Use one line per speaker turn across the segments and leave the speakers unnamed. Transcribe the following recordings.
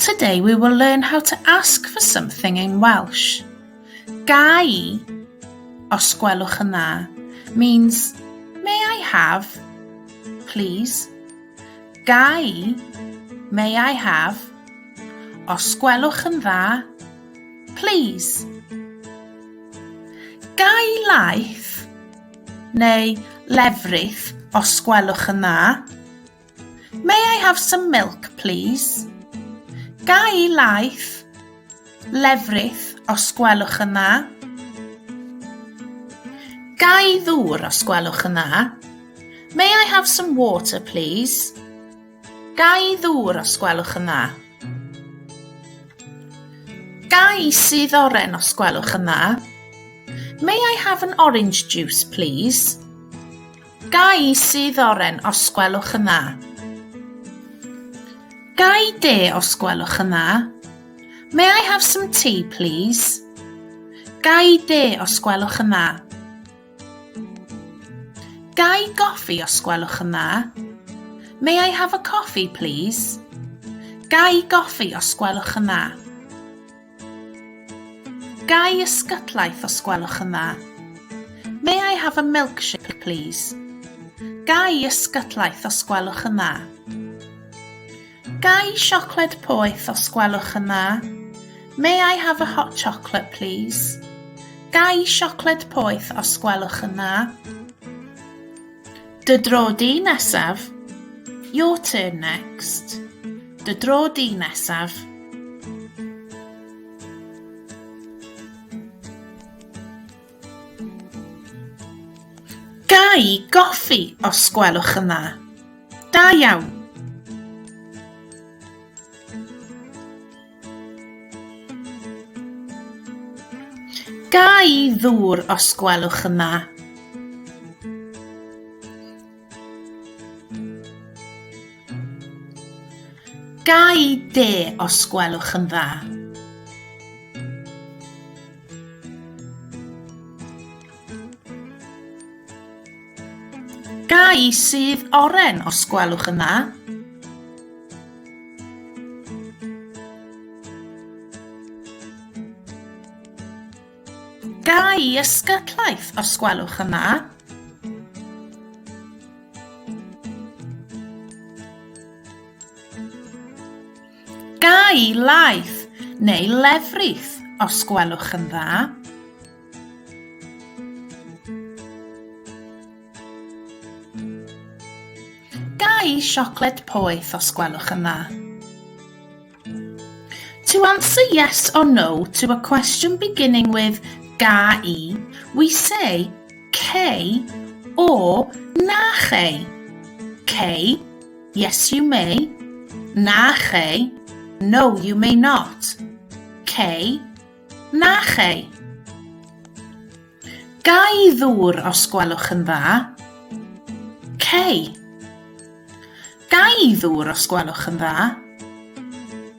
Today we will learn how to ask for something in Welsh. Gai, os gwelwch yn dda, means may I have, please. Gai, may I have, os gwelwch yn dda, please. Gai laeth neu lefrith os gwelwch yn dda. May I have some milk, please? Ga i laeth, lefrith, os gwelwch yn dda? Ga i ddŵr, os gwelwch yn dda? May I have some water, please? Ga i ddŵr, os gwelwch yn dda? Ga i sydd oren, os gwelwch yn dda? May I have an orange juice, please? Gai sy ddoren os gwelwch yn dda? Gai de os gwelwch yn dda? May I have some tea, please? Gai de os gwelwch yn dda? Gai goffi os gwelwch yn dda? May I have a coffee, please? Gai goffi os gwelwch yn dda? Gai ysgydlaeth os gwelwch yn dda? May I have a milkshake please? Gai ysgydlaeth os gwelwch yn dda? Gai siocled poeth os gwelwch yn dda? May I have a hot chocolate please? Gai siocled poeth os gwelwch yn dda? Dy dro di nesaf. Your turn next. Dy dro di nesaf. Da i goffi, os gwelwch yn dda. Da iawn. Ga i ddŵr os gwelwch yn dda? Ga i de os gwelwch yn dda? Ga i sudd oren os gwelwch yn dda? Ga i ysgytlaeth os gwelwch yn dda? Ga i laeth neu lefrith os gwelwch yn dda? Gai siocled poeth os gwelwch yn dda? To answer yes or no to a question beginning with ga i, we say cei o na chei. Cei, yes you may. Na chei, no you may not. Cei, Na chei. Gai ddŵr os gwelwch yn dda? Cei. Gai ddŵr os gwelwch yn dda?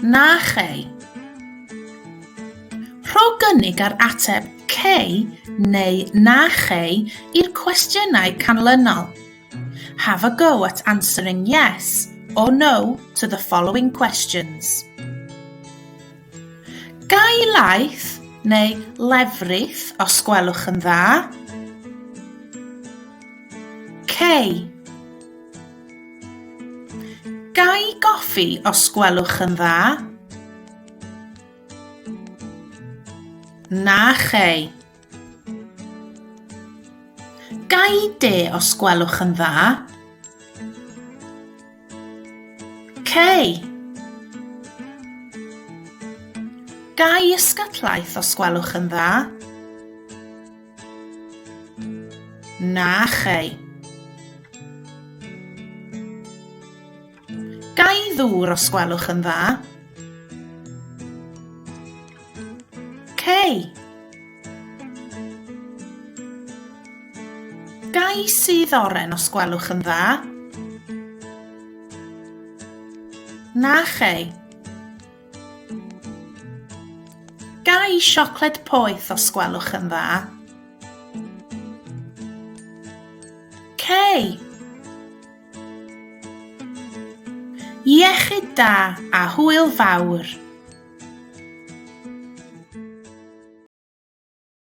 Na chei. Rho gynnig ar ateb cei neu na chei i'r cwestiynau canlynol. Have a go at answering yes or no to the following questions. Gai laeth neu lefrith os gwelwch yn dda? Cei. Gai goffi os gwelwch yn dda? Na chei. Gai de os gwelwch yn dda? Cei. Gai ysgatlaeth os gwelwch yn dda? Na chei. Ga i ddŵr os gwelwch yn dda? Cei. Ga i sydd oren os gwelwch yn dda? Na chei. Ga i siocled poeth os gwelwch yn dda? Cei. Iechyd da a hwyl fawr!